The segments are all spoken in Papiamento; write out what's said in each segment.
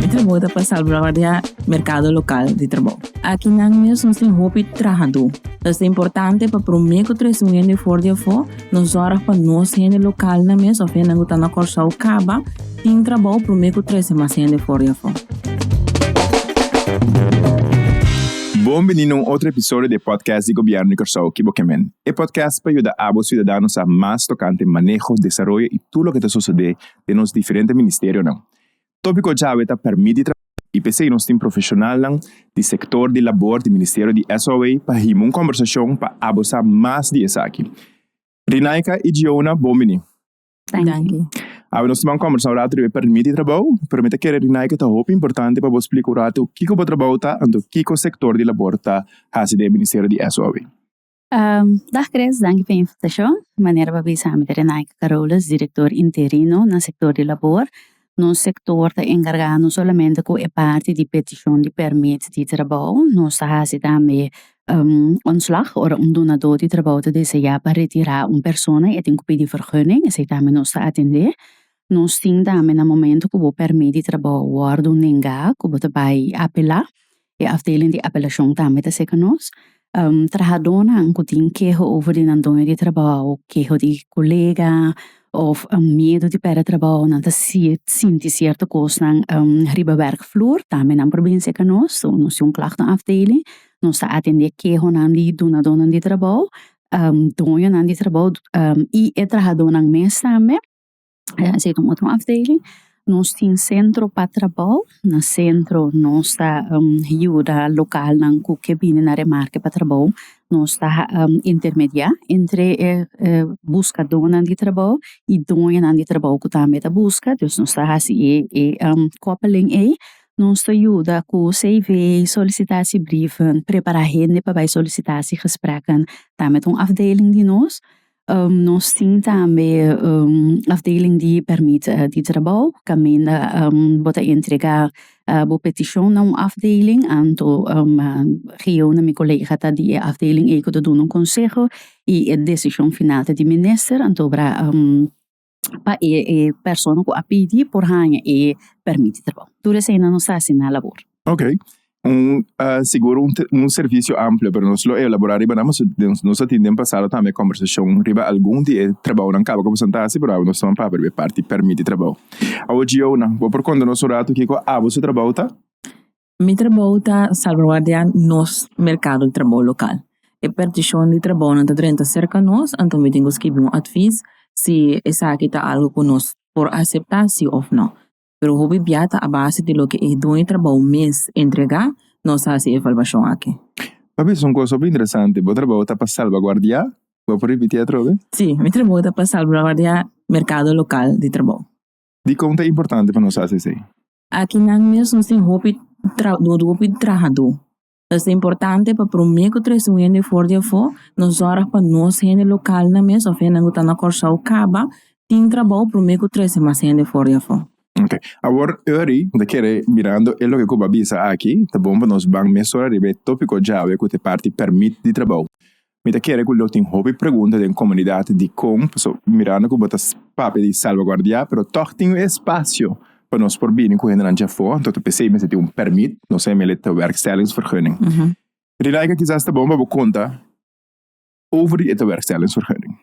Mi trabou ta pa salvaguardia merkado lokal di trabou. Aki nan mes nos tin hopi trahadó. Ta ser importante pa promé ku tres un hende for di afó nos sòrg pa nos hende lokalnan mes òf hende ku ta na Kòrsou kaba Tin trabou promé ku trese mas hende for di afó. Bon bini na un otro episodio di e podcast di Gobièrnu di Kòrsou Kibo Kemen. E podcast pa yuda abo siudadano sa mas tokante maneho, desaroyo i tur loke ta sosodé den nos diferente ministerionan. Tópiko djawe ta pèrmit di trabou i p'esei nos tin profeshonalnan di sektor di labor di ministerio di SOA pa hima un kòmbersashon pa abo sa mas di esaki. Rinaika i Giona, bon bini. Danki. Awe nos taban kombersá un ratu riba e permit di trabou, pero mi ta kere rinai ku e ta hopi importante pa bo splika un ratu kiko bo trabou ta, anto kiko sektor di labor ta hasi den e Ministerio di SOW. Dag Chris, danki pa e invitashon. Manera pa bisa mi ta Renaike Carolus, direktor interino na sektor di labor. Nos sektor ta enkargá no solamente ku e parti di petishon di pèrmit di trabou, nos ta hasi tambe ontslag ora un dunadó di trabou ta deseá pa retirá un persona i e tin ku pidi fergunning, esei tambe nos ta atendé. Nos tin tambe na momentu ku bo pèrmit di trabou wòrdu nengá ku bo ta bai apelá, E afdeling di apelashon tambe ta seka nos. Trahadónan ku tin keho over di nan doño di trabou, keho di kolega òf miedu di pèrdè trabou, nan ta sinti sierto kosnan riba wèrkflur, tambe nan por bini seka nos. So nos tin un klahkton afdeling, nos ta atendé kehonan di dunadónan di trabou, doñonan di trabou i e trahadónan mes tambe. esei ta un otro afdeling, nos tin centro pa trabou na centro nos ta yuda localnan cu ke bini na remarke pa trabou nos ta intermedia entre e buscadonan di trabou y doñanan di trabou cu tambe ta busca dus nos ta haci e coppeling ei nos ta yuda cu CV, solicitatie brieven, prepara hende pa bay solicitatie gesprekken tambe ta un afdeling di nos. Nos tin tambe afdeling di permit di trabou caminda bo ta entrega bo peticion na un afdeling anto heo na mi colega ta di e afdeling ei cu ta duna un conseho y e decision final ta di minister anto obra pa e e persona cu a pidi por haya e permit di trabou. Tur esei nan nos ta haci na labor. Ok. Un sigur un un servicio amplio pero nos lo elabora riba nan pasobra den nos a tin den pasado tambe conversacion riba algun di e trabounan caba cu a basta ta haci pero awe nos ta ban papia riba e parti permit di trabou. Awor Gio nan bo por conta nos un rato kico awo su trabou ta? Mi trabou ta salvaguardia nos merkado di trabou lokal. E pertishon di trabounan ta drenta serka nos, anto mi tin ku skibi un atvis si esaki ta algu ku nos por aseptá sí òf nò. Pero hopi bia ta a base di loke e dueño di trabou mes entregá nos ta hasi e evaluashon akí. Pa mi es un kos hopi interesante. Bo trabou ta pa salvaguardia? Bo por ripití atrobe? Sí, mi trabou ta pa salvaguardia merkado lokal di trabou. Dikon ta importante pa nos hasi esei? Aki nan mes nos tin hopi hopi trahadó ta esei importante pa promé ku trese un hende for di afó nos sòrg pa nos hende lokal nan mes òf hende ku ta na Kòrsou kaba tin trabou promé ku trese mas hende for di afó. Ok awor Uri ta kere mirando e loke ku bo a bisa aki ta bon pa nos ban mes sor ariba e tópiko djawe ku ta e parti pèrmit di trabou Mi ta kere ku lo tin hopi pregunta den komunidat dikon pasobra mirando ku bo ta papia di salvaguardia pero tòg tin e spasio pa nos por bini ku hendenan dje afó anto ta p'esei mester tin un pèrmit no sei mi bewerkstellingsvergunning Rilaika kisas ta bon pa bo konta over di e bewerkstellingsvergunning.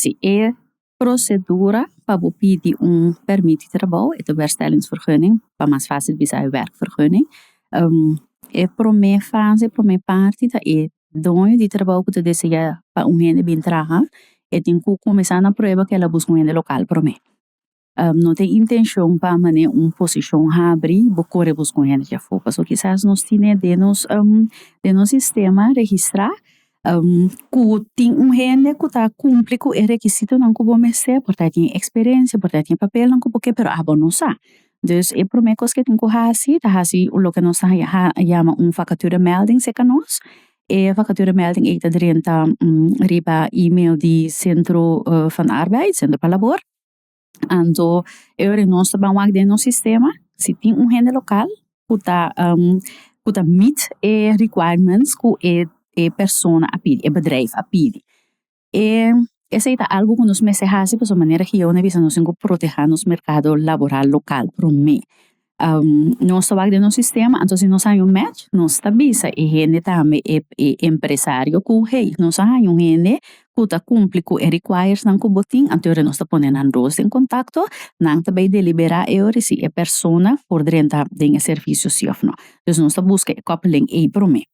Si e prosedura pa bo pidi un permit di trabou, e ta werkstellingsvergunning, pa mas facil bisa e werkvergunning, e prome fase, prome parti ta e doño di trabou ku ta desea pa un hende bin traha, e tin ku kuminsá na prueba kila buska un hende lokal prome. No tin intencion pa mane un posicion habri bo core bos con hende dje afo pasobra kisas nos tine den nos den nos sistema registra cu tin un hende cu ta cumpli cu e requisitonan cu bo mester por ta tin experiencia por ta tin e papelnan cu bo kier pero abo no sa dus e prome cos cu tin cu haci ta haci loke nos ta yama un vacatura melding seca nos e vacatura melding ei ta drenta riba email di centro van arbeid centro pa labor anto e ora nos ta ban wak den nos sistema si tin un hende lokal ku ta ku ta meet e requirements ku e e persona a pidi e bedrijf a pidi e esei ta algu ku nos mester hasi pasobra manera ku Jehoa a bisa nos tin ku proteha nos merkado laboral lokal promé. nos ta wak den nos sistema anto si nos haña un match nos ta bisa e hende tambe e e empresario ku hey nos a haña un hende ku ta kumpli ku e requires nan ku bo tin anto hora nos ta pone nan dos den kontakto nan ta bai deliberá e ora si e persona por drenta den e servisio si òf nò dus nos ta buska e koppeleng ey promé.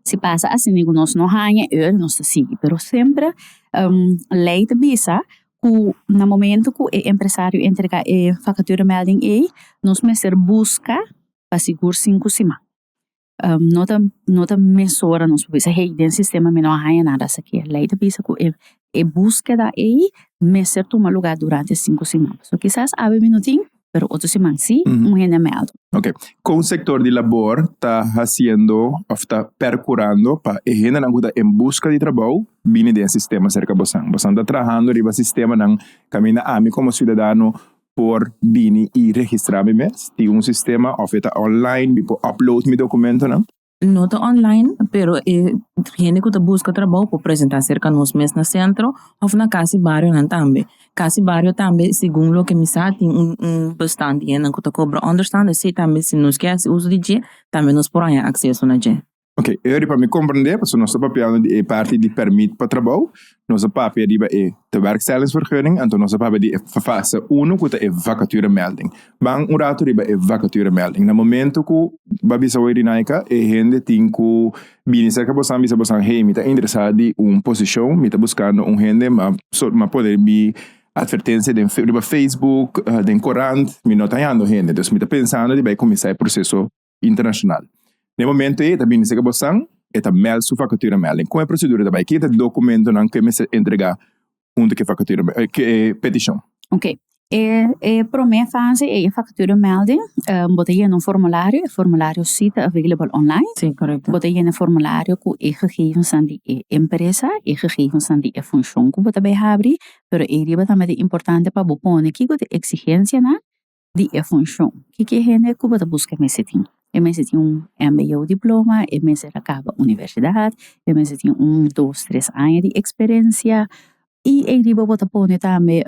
Si pasa asina ku nos no haña e ur nos ta sigui pero semper lei ta bisa ku na momento ku e empresario a entrega e fakatura melding ei nos mester buska pa sigur sinku siman no ta no ta mes ora nos bisa hey den sistema mi no a haña nada esaki lei ta bisa ku e e buskeda ei mester tuma lugá durante sinku siman. So kisas awe mi no tin, pero otro siman si, un hende a mèldu. Ok, kon sektor di labor ta hasiendo òf ta perkurando pa e hendenan ku ta en buska di trabou bini den e sistema serka bosan? Bosan ta trahando riba sistemanan kaminda ami komo siudadano por bini i registrá mi mes? Tin un sistema òf e ta online mi por upload mi dokumentonan? No ta online, pero e hende ku ta buska trabou por presentá serka nos mes na sentro òf na kas di barionan tambe. Kas di bario tambe segun loke mi sa tin un un bestan di hendenan ku ta kobra ònderstan esei tambe si nos ke hasi uso di dje tambe nos por haña akseso na dje. Ok, e riba mi komprendé pasobra nos ta papiando di e parti di pèrmit pa trabou, Nos a papia riba e tewerkstellingsvergunning, anto nos a papia di e fase uno ku ta e vakaturemelding. Ban un ratu riba e vakaturemelding. Na momento ku bo a bisa hoy Rinaika, e hende tin ku bini serka bosan bisa bosan hey mi ta interesá di un posishon, mi ta buskando un hende ma so ma pone mi atvertensia den riba facebook, den korant, mi no ta hallando hende. Dus mi ta pensando di bai kuminsá e proseso. internacional. Na e momento ey ta bini sega bo san e ta meld su vacature meld en con e procedura ta bay ken ta e documentonan cu e mester entrega hunto cu e vacature meld cu e peticion. Ok e e prome fase ey e vacature melding bo ta yena un formulario e formulario si ta available online Si correcto. bo ta yena e formulario cu e gegevensan di e empresa e gegevensan di e funcion cu bo ta bay habri pero ey riba tambe ta importante pa bo pone kico ta e exigencianan di e funshon. Kiko e hende ku bo ta buska e mester tin? E mester tin un MBO diploma, e mester a kaba universidat, e mester tin un dos tres aña di eksperensia i ei riba bo ta pone tambe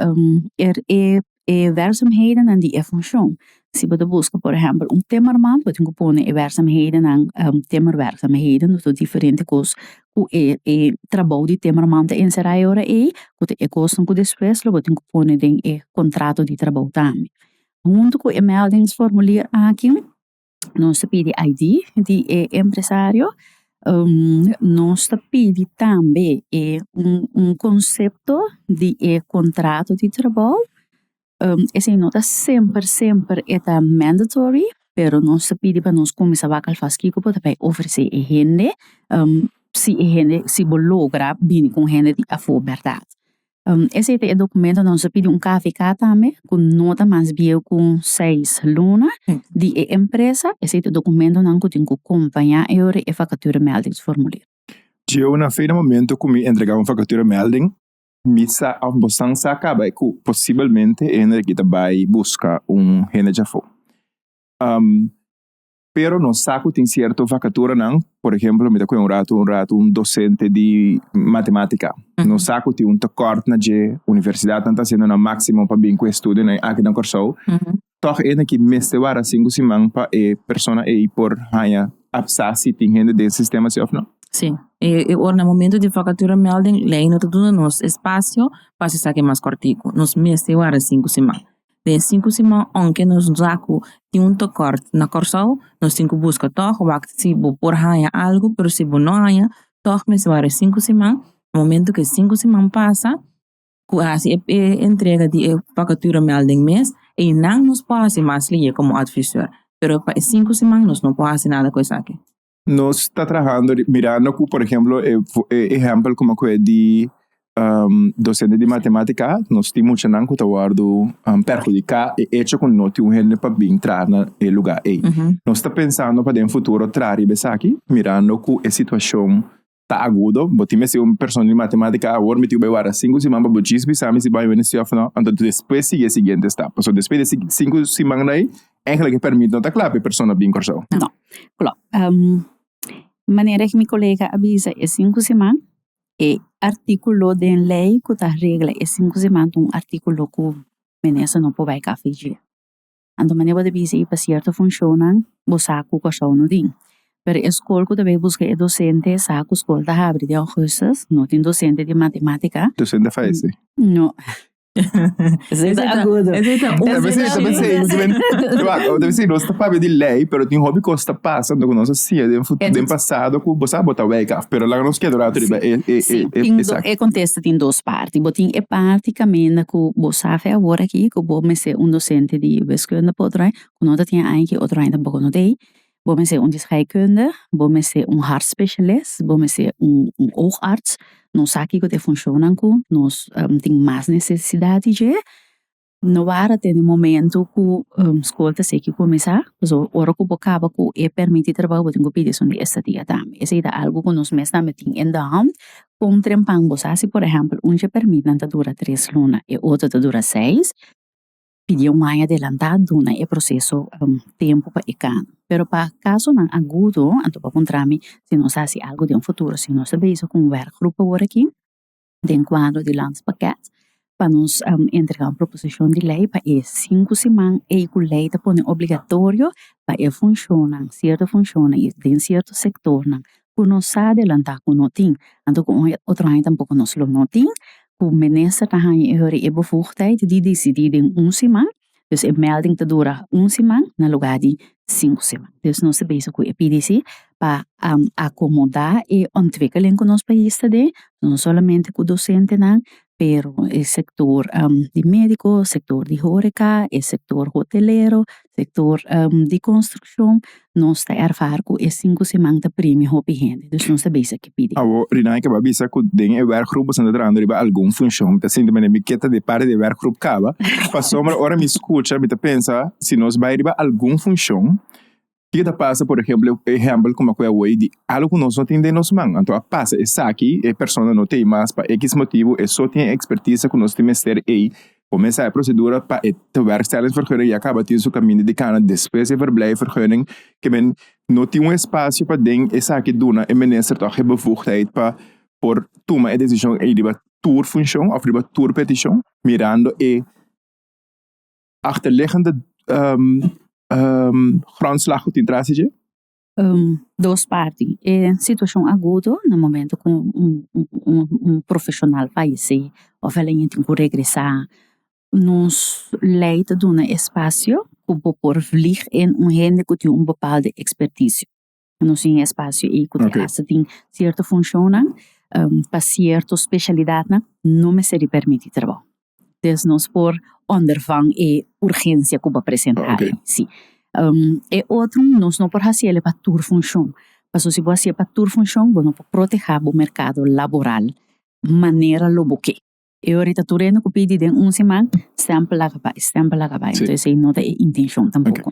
e werkzaamhedennan di e funshon. Si bo ta buska por ehèmpel un timmerman bo tin ku pone e werkzaamhedennan timmerwerkzaamheden diferente kos ku e e trabou di temberman ta enserá e ora ei ku ta e kosnan ku despues lo bo tin ku pone den e kontrato di trabou tambe huntu ku e meldings formulier aki nos ta pidi ID di e empresario nos ta pidi tambe e un un konsepto di e kontrato di trabou esei no ta semper semper e ta mandatory pero nos ta pidi pa nos kuminsa wak alfas kiko bo ta bai ofresé e hende si e hende si bo logra bini ku un hende di afó bèrdat esei ta e dokumento nan ta pidi un kvk tambe ku no ta mas bieu ku seis luna di e empresa esei ta dokumento nan ku tin ku kompaña e ora e fakatura mèldings formulier. Dje una feina momento ku mi entregá un fakatura mèlding. Mi sa of bosan sa caba e cu posibelmente e hende aki ta bay busca un hende dje afo. Pero nos sa cu tin cierto vacaturanan, por ejemplo mi ta cuya un rato un rato un docente di matematica. Nos sa cu tin un tekort na dje, universidadnan ta haciendo nan maximo pa bin cu e studionan aki na Corsou. Tòg e na ki mester wara sinku siman pa e persona ei por haña afsa si tin hende den sistema si òf nò? Sí. E ora na momento di vakatura melding, lei no ta duna nos e spasio pa hasi esaki mas kòrtiku. Nos mester wara sinku siman. Den e sinku siman, ounke nos sa ku tin un tokòrt na Kòrsou, nos tin ku buska tòg wak si bo por haña algu, pero si bo no haña, tòg mester wara e sinku siman. Momento ku e sinku siman pasa, cu a haci e entrega di e vacatura mel den mes, eynan nos por haci mas ley como advisor, pero pa e cinco siman nos no por haci nada cu esaki. Nos ta trahando mirando cu por ejemplo e ehempel como cu e di docente di matematica a, nos tin muchanan cu ta wordo perhudica e hecho cu no tin un hende pa bin traha na e lugar ey. Nos ta pensando pa den futuro traha riba esaki mirando cu e situacion Ta agudo. Bo tin mester un persona di matematika awor miti'u bai warda sinku siman pa bo chispi sami si bo a yoga nesio of no. Anto despues sigui e siguiente stap. So despues di e sinku siman dai eigenlijk e permit no ta kla pa e persona bin Kòrsou. No. Klò. Manera ku mi kolega a bisa e sinku siman e artikulo den lei ku ta regla e sinku siman ta un artikulo ku minister no por bai kafie. Anto manera bo ta bisa i pa cierto funcionnan bo sa cu Kòrsou no tin. Pero e scol cu ta bay busca e docente sa cu scol ta habri den augustus, no tin docente di matematica. Docente faise? No. Esey ta agudo. Esey ta un Tal vez ey ta pensá ey no ta ben Wacht, tal vez ey nos ta pabia di lei, pero tin hopi cos ta pasa anto cu nos a siña den fu den pasado cu bo sa bo ta wijk af, pero laga nos keda un rato riba e e e e e sa. E contesta. ta tin dos parti. Bo tin e parti caminda cu bo sa fe awor aki cu bo mester un docente di wiskunde pa otro aña, cu no ta tin aña aki otro aña tampoco no ta ey. Bo mester un di scheikunde, bo mester un hart specialist, bo mester un oogarts. Nos sa kico ta e funcion nan cu nos tin mas necesidad di dje. No wara te e momento ku skol ta seki kuminsá, pasobra ora ku bo kaba ku e permití trabou bo tin ku pidi esun di estadia tambe, esei ta algu ku nos mes tambe tin en de hònd, kon trempan bo sa si por ehèmpel un dje permitnan ta dura tres luna e otro ta dura seis, pidi un aña adelantá duna e proseso tempu pa e kano, pero pa kasonan agudo anto bo kontrami si nos hasi algu den futuro si nos ta bezi kon wèrkgrup aworakí. den kuadro di lans pakèt pa nos entregá un proposishon di lei pa e sinku siman ei ku lei ta pone obligatorio pa e funshonnan sierto funshonnan i den sierto sektornan ku no sa adelantá ku no tin anto ku un otro aña tampoko nos lo no tin ku Minister ta haña e bevoegdheid di disidí den un siman Dus e melding ta dura un siman na lugar di sinku siman. Dus nos ta bezig cu e PDC pa acomoda e ontwikkeling cu nos pais ta den, no solamente cu docentenan pero e sector di medico, sector di horeca, e sector hotelero, sector di construccion Nos ta erfara ku e sinku siman ta primi hopi hende, dus nos ta bisa ke pidi. Awo, Rinai kaba bisa ku den e wèrkgrup boso na ta trabando riba algun funshon. Mi ta sinti manera mi ke ta di parti di e wèrkgrup kaba. Pasobra ora mi skucha mi ta pensa, si nos bai riba algun funshon, kiko ta pasa por ehèmpel, e ehèmpel kuma ku e awor ei di algu ku nos no tin den nos man. Anto a pasa esaki, e persona no ta ei mas pa ekis motibu, e so tin e ekspertise ku nos tin mester ei. Komesa e prosedura pa e tewerkstellingsvergunning ya kaba tin su kaminda di kana despues e verblijfvergunning kimen no tin un espasio pa den esaki duna e minister tog e bevoegdheid pa por tuma e decision ei riba tur funcion of riba tur peticion mirando e achterliggende grondslag ku tin tras di dje. dos parti e situashon agudo na momento ku un profeshonal falesé òf el a yega tin ku regresá nos lei ta duna espasio ku bo por vlieg en un hende ku tin un bepaalde ekspertisio nos tin espasio ei ku ta hasi tin sierto funshonnan pa sierto speshalidatnan no mester di pèrmití trabou. Des nos por òndervan e urgensia ku bo a presentá ei. Si. E otro nos no por hasi el pa tur funshon. Paso si bo hasi e pa tur funshon bo no por protehá bo merkado laboral manera lo bo ke. E ora ta tur hende ku pidi den un seman stèmpel a kabá, e stèmpel a kabá. Entonces ei no ta e intenshon tampoko.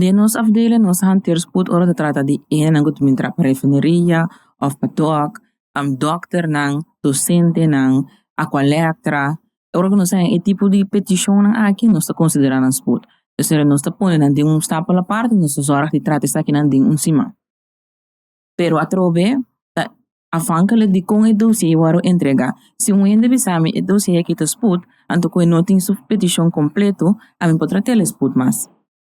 Den nos afdeling nos hanteer spoed ora ta trata di enan ku ta bin traha pa refineria of pa dòk dòkter nan docente nan aqua lectra ora ku nos e tipo di peticion aki nos ta considera nan spoed esey nos ta pone nan den un stapel aparte nos ta zorg di trata esaki nan den un siman. pero atrobe ta afhankelijk di kon e dosie wòrdu entrega. Si un hende bisami e dosie aki ta sput, anto ku e no tin su petishon kompletu, ami por tratel e sput mas.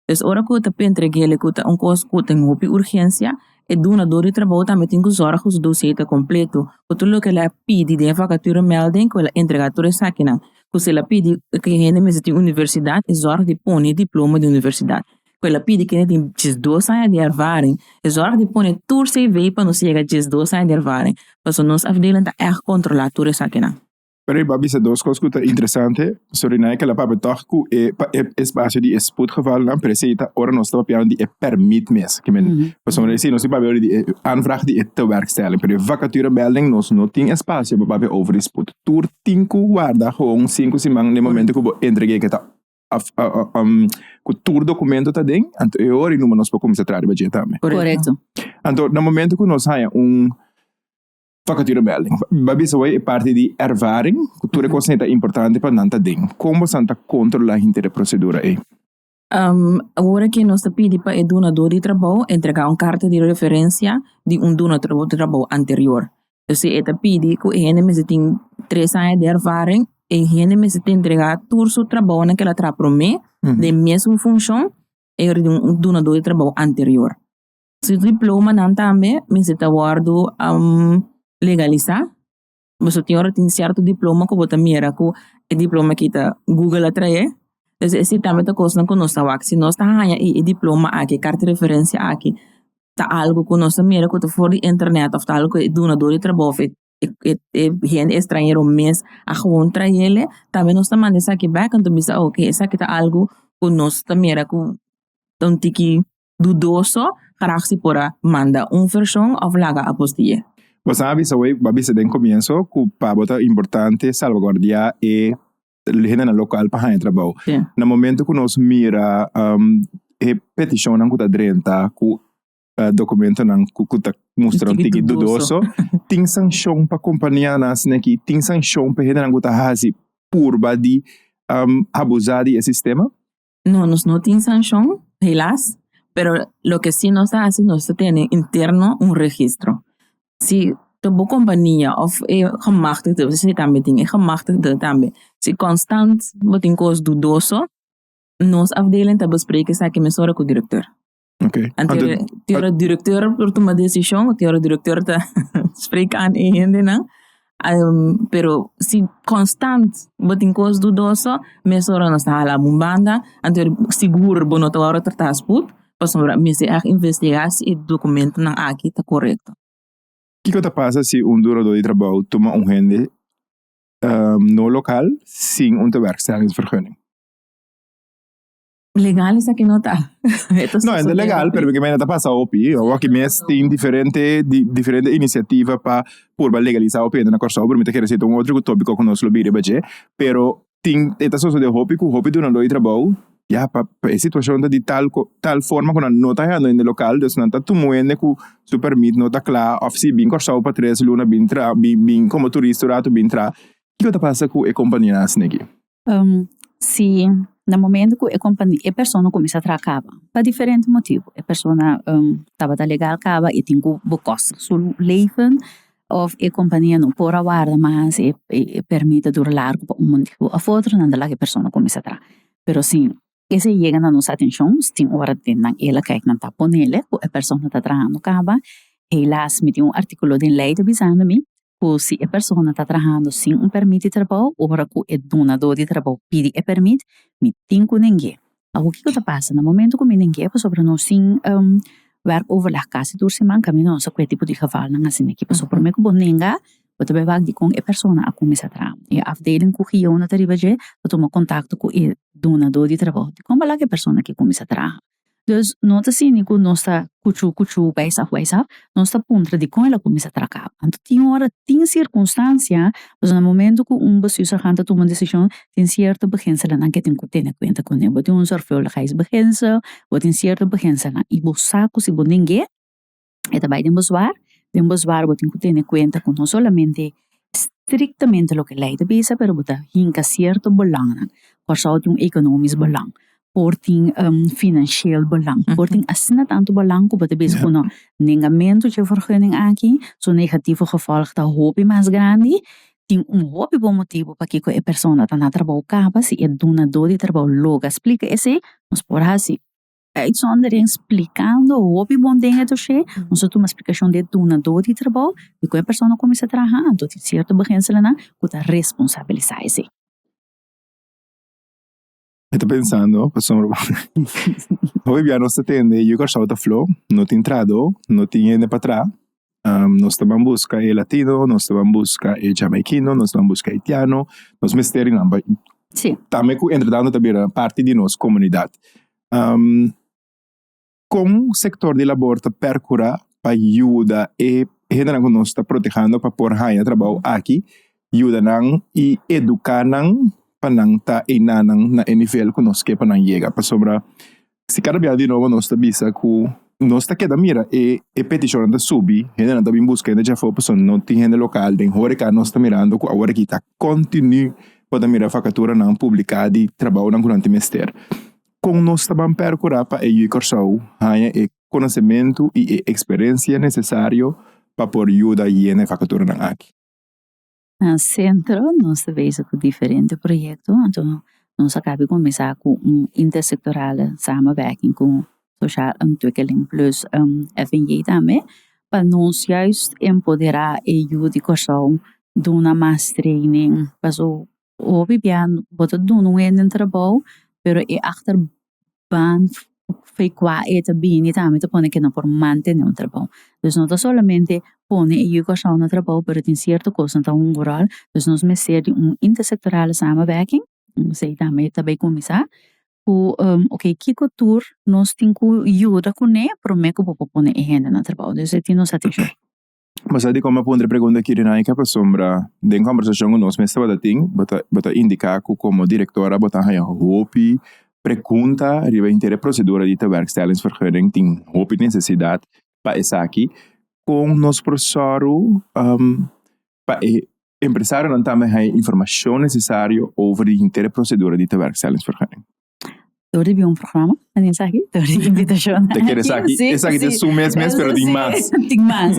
Pes ora ku ta pe entregel e ku ta un kos ku ten hopi urgensia, e dunador di trabou tambe tin ku zòrg ku su dosie ta kompletu ku tur loke el a pidi den e vakaturemèlding ku el a entrega tur esakinan. Ku si el a pidi ku e hende mester tin universidat, e zòrg di pone diploma di universidat. cu el a pidi kende tin diesdos aña di ervaring es ora di pone tur cv pa nos yega diesdos aña di ervaring pasobra nos afdeling ta echt controla tur esaki nan. Pero i bo a bisa dos cos cu ta interesante, so Rinay kel a papia toch cu e pa e espacio di e spoedgevalnan, pero esey ta ora nos ta papiando di e permit mes, ki men pasobra esey nos tin papia di e aanvraag di e tewerkstelling, pero e vacaturemelding nos no tin espacio pa papia over di spoed. Tur tin cu warda gewoon sinku siman den momento cu bo entrega e ke ta ku tur dokumento ta den, anto e ora i numa nos por kuminsá traha riba dje tambe. Korekto. Anto na momentu ku nos haña un vakaturemèlding, bo a bisa wei e parti di ervaring ku tur e kosnan ta importante pa nan ta den. Kon bosan ta kontrolá hinter e prosedura ei? Ora ke nos ta pidi pa e dunadó di trabou entregá un karta di referensia di un dunadó di trabou anterior, P'esei e ta pidi ku e hende mester tin tres aña di ervaring, e hende mester ta entrega tur su trabounan ku el a traha promé den e mesun funshon e yor di un dunadó di trabou anterior. Su diplomanan tambe mester ta wòrdu legalisá, boso tin ora tin sierto diploma ku bo ta mira ku e diploma aki ta Google a traé, es e si tambe ta kosnan ku nos ta wak, si nos ta haña i e diploma aki, e karta referensia aki ta algo ku nos ta mira ku ta for di internet of ta algo ku e dunador di trabou of e e hende estranhero mes a gewoon traele tambe nos ta manda esaki bek anto bisa oke esaki ta algo ku nos ta mira ku ta un tiki dudoso graag si por a manda un vershon of laga apostie. Bo sa a bisa wei bo a bisa den komienso ku pa bo ta importante salvaguardia e hende na local pa haña trabou. Sí. Na momento ku nos mira um, e peticionnan ku ta drenta ku uh, dokumentonan ku, ku ta mustra un tiki dudoso, tin sanksyon pa kompanianan sneki, tin sanksyon pa hendenan ku ta hasi purba di um, abusá di e sistema. No, nos no tin sanshon, helas, pero loke si nos ta hasi, nos ta tene interno un registro. Si ta bo kompania òf e gemachtigde, pasobra esei tambe tin, e gemachtigde tambe, si konstant bo tin kos dudoso, nos afdeling ta bespreke esaki mesun ora ku direktor. Okay. Ante Ante- de- te ora directeur por toma decision o te ora directeur ta spreek aan e hende nan ehm, pero si constant bo tin cos dudoso mes ora nos ta hala bo un banda ante ora sigur bo no ta wòrdu trata spoed pasobra mester èg investiga si e documentonan aki ta correcto. Kiko ta pasa si un durador di trabou tuma un hende ehm, no local sin un tewerkstellingsvergunning? Legal esa que no ta. no, es legal, pero que me ta pasa opi. O aquí mes tin diferente di, diferente iniciativa pa purba legalizar opi en Corsao, pero me te quiere decir un otro tópico que nos lo bire baje, pero tin eta soso de hopi ku hopi duna loi trabou. Ja, pa, pa e situacion ta di tal, tal forma ku nan no ta hendo in de local, dus nan ta tumuende ku su permit no ta kla, of si bin Corsao pa tres luna bin tra, bin, bin komo turista un ratu bin tra. Kiko ta pasa ku e kompania asina aki? si na momento ku e kompania e persona kuminsá traha kaba pa diferente motibu e persona tabata legal kaba i tin ku bo kos su leven òf e kompania no por a warda mas e pèrmit ta dura largu pa un motibu òf otro nan ta laga e persona kuminsá traha pero si K'es a yega na nos atencion nos tin ora den nan ela kijk nan ta ponele cu e persona ta trahando caba, helaas mi tin un articulo den ley ta bisando mi cu si e persona ta trahando sin un permit di trabou ora cu e dunador di trabou pidi e permit mi tin cu neng'e. Awo kico ta pasa na momento cu mi neng'e pasobra nos tin werk overleg casi tur siman, caminda nos a cu e tipo di gevalnan asina aki pasobra prome cu bo nenga Bo ta bai wak dikon e persona a kuminsá traha. E afdeling ku Giyona ta riba dje ta tuma kontakto ku e dunadó di trabou di kon balak e persona ke kuminsá traha. Dus no ta sini ku nos ta kuchú kuchú, waisaf waisaf, nos ta puntra dikon el a kuminsá traha kaba. Anto tin ora, tin sirkunstansia, pasobra na momento ku un besiusahan ta tuma un desishon tin sierto beginselnan ke tin ku tene kuenta ku bo tin un zorgvuldigheidsbeginsel, bo tin sierto beginselnan i bo sa ku si bo ningé. e ta bai den boshoar, den boshoar bo tin ku tene kuenta ku no solamente striktamente loke lei ta bisa pero bo ta hinka sierto bolangnan por sa bo tin un ekonomisch bolang por tin un finanshiel bolang por tin asina tantu bolang ku bo ta bisa ku no nengamentu dje vergunning aki su negativo gevolg ta hopi mas grandi tin un hopi bon motibu pakiko e persona ta na trabou kaba si e dunadó di trabou lo a splika esei nos por hasi. Uitzondering splikando hopi bon den e doshé, nos ta tuma splikashon di e dunadó di trabou, di kon e persona kuminsá traha anto di sierto beginselnan ku ta responsabilisá esei. Mi ta pensando, pasobra bo hopi bia nos ta tende Yu Kòrsou ta fló, no tin trahadó, no tin hende pa traha, nos ta ban buska e latino nos ta ban buska e jamaikino nos ta ban buska e itiano nos mester nan bai tambe ku entretanto ta bira parti di nos komunidat kon sektor di labor ta perkura pa yuda e hendenan ku nos ta protehando pa por haña trabou aki yuda nan i eduka nan pa nan ta enanan na e nivel ku nos ke pa nan yega pasobra Si kada biaha di nobo nos ta bisa ku nos ta keda mira e e petishonnan ta subi, hendenan ta bin buska hende dje afó pasobra no tin hende lokal. Den horeka nos ta mirando ku awor aki ta kontinú bo ta mira fakaturanan publiká di trabounan ku nan tin mester. Kon nos ta ban perkurá pa e yu Kòrsou haña e konosementu i e eksperensia nesesario pa por yuda yena e fakaturanan aki? Na sentro nos ta bezi ku diferente proyekto anto nos a kapé kuminsá ku un intersektoral samenwerking ku Sosial Ontwikkeling Plus FNJ tambe pa nos juis empoderá e yu di Kòrsou duna mas treinin pasobra hopi bia bo ta duna un hende trabou pero e achter ban fe kua e ta bini tambe ta pone ke no por mantene un trabou dus no ta solamente pone e yu kòrsou na trabou pero tin cierto cos nan ta hunga ròl dus nos mester di un intersectoral samenwerking esei tambe ta bai cuminsa cu okay kiko tur nos tin cu yuda cune prome cu bo por pone e hende na trabou esei tin nos atishon. Bo sa dikon mi a puntra e pregunta akí, Rinay? Ke a pasobra den kòmbersashon ku nos mes tabata tin bo ta bo ta indiká ku komo direktora bo ta haña hopi pregunta riba inter e prosedura di tewerkstellingsvergunning? Tin hopi nesesidat pa esaki. Kon nos por sòru pa e Empresarionan tambe haya informacion necesario over di hinter e procedura di tewerkstellingsvergunning. Door di bion programa, nan tin esaki, door di invitacion. Te ker esaki? Esaki ta su mes mes, pero tin mas. Tin mas.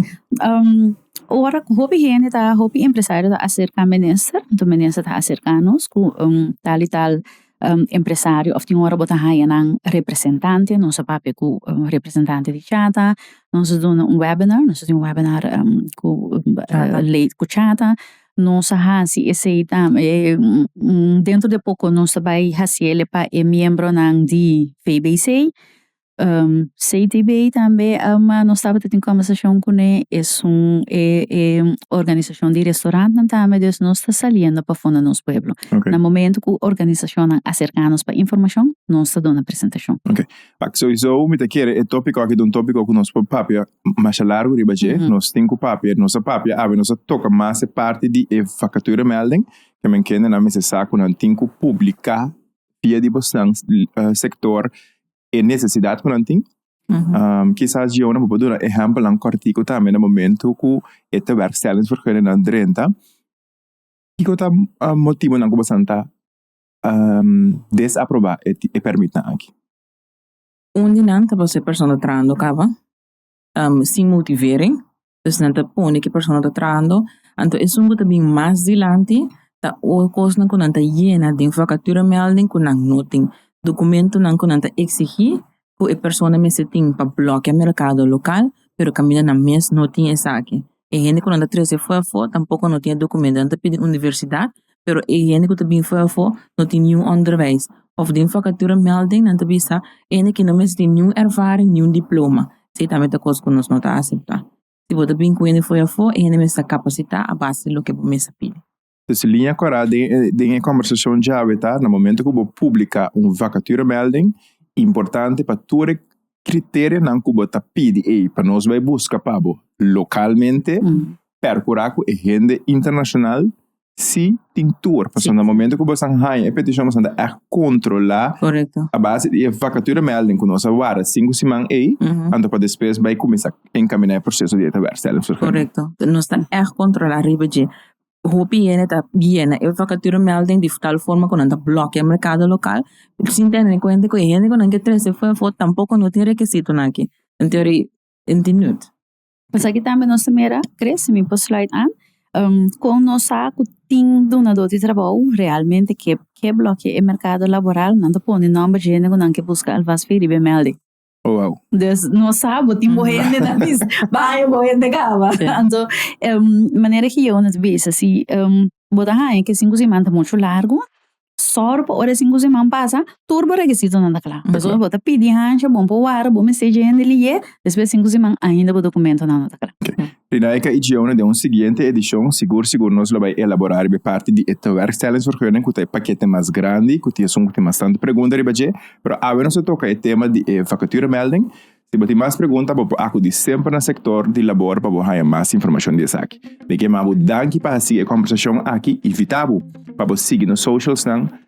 Ora cu hopi hende ta, hopi empresario ta acerca minister, entonces minister ta acerca nos cu un tal y tal empresario of tin ora bo ta haya nan representante nos a papia ku representante di chata nos a duna un webinar nos a tin un webinar ku ku chata nos a hasi esei tambe dentro de poko nos ta bai hasiel e pa e miembronan di fbc CTB tambe ama nos tabata tin conversacion cune es un organisacion di restaurantnan tambe dus nos ta saliendo pasobra nos pueblo na momento cu organisacionnan a cerca nos pa informacion nos ta duna presentacion. Ok pak soiso mi ta kere e topico aki ta un topico cu nos por papia masha largo riba dje nos tin cu papia nos a papia awe nos a toca mas e parti di e vacature melding cu men kendenan mester sa cu nan tin cu publica via di bosan sector e necesidad cu nan tin. Um, quizás yo no puedo dar ejemplo nan cortico también en momento cu e tewerkstellingsvergunning nan drenta. Kiko ta uh, motivo nan ku basanta um, desaproba e, e permit nan aki? Un di nan ta por ser persona trando caba. sin motivering pues nan ta pone ki persona ta trahando anto esun ku ta bin mas dilanti ta ora kosnan ku nan ta yena den vakatura mèlding ku nan no tin dokumentunan ku nan ta eksigi ku e persona mester tin pa blòkea merkado lokal pero kaminda nan mes no tin esaki. e hende ku nan ta trese afó afó tampoko no tin e dokumento, nan ta pidi universidat pero e hende ku ta bin afó afó no tin niun onderwijs òf den vakatura mèlding nan ta bisa e hende aki no mester tin niun ervaring niun diploma, esei ta mester kos ku nos no ta aseptá, si bo ta bin ku hende afó afó e hende mester ta kapasitá a base di loke bo mester pidi. Entonces liña kòrá den e kòmbersashon djawe ta na momento ku bo publiká un vakaturemèlding importante pa tur e kriterionan ku bo ta pidi ei pa nos bai buska pa bo lokalmente pèr kurá ku e hende internashonal si tin tur pasobra na momento ku bo stan haña e petishon bo ta ègt kontrolá a base di e vakaturemèlding ku nos a warda sinku siman ei anto pa despues bai kuminsá enkaminá e proseso di e ta wèrstel. hopi hende ta bieni e vacaturo melding di tal forma cu nan ta blokia e mercado local sin tene en cuenta cu e hende cu nan ke trece fo fo tampoco no tin requisitonan aki en teoria e tin nüt. Esaki tambe nos ta mira cre si mi por slide an con nos sa cu tin dunador di trabou realmente ke ke blokia e mercado laboral nan ta pone nomber di hende cu nan ke busca alvasfy riba e melding. Oh, wow. Dus no sa bo tin bo hende na bis. Baña bo hende caba. Sí. Anto, um, manera ki yo nes bisa, si um, bo ta haña ke cinco seman ta mucho largo, sor pa ora cinco seman pasa, tur bo rekisitonan ta cla. Ta cla. Pasobra bo ta pidi haña bon pa wara, bo mester dje hende liye, despues cinco seman ainda bo documentonan no ta cla. Dinamika y Gioune den un siguiente edishon sigur sigur nos lo bai elaborá riba e parti di e tewerkstellingsvergunning ku ta e pakete mas grandi ku tin esun ku tin bastante pregunta riba dje pero awe nos ta toka e tema di e vakaturemelding si bo tin mas pregunta bo por akudí semper na sektor di labor pa bo haña mas informashon di esaki mi ke manda bo danki pa hasi e kombersashon aki invitá bo pa bo sigui nos socialsnan.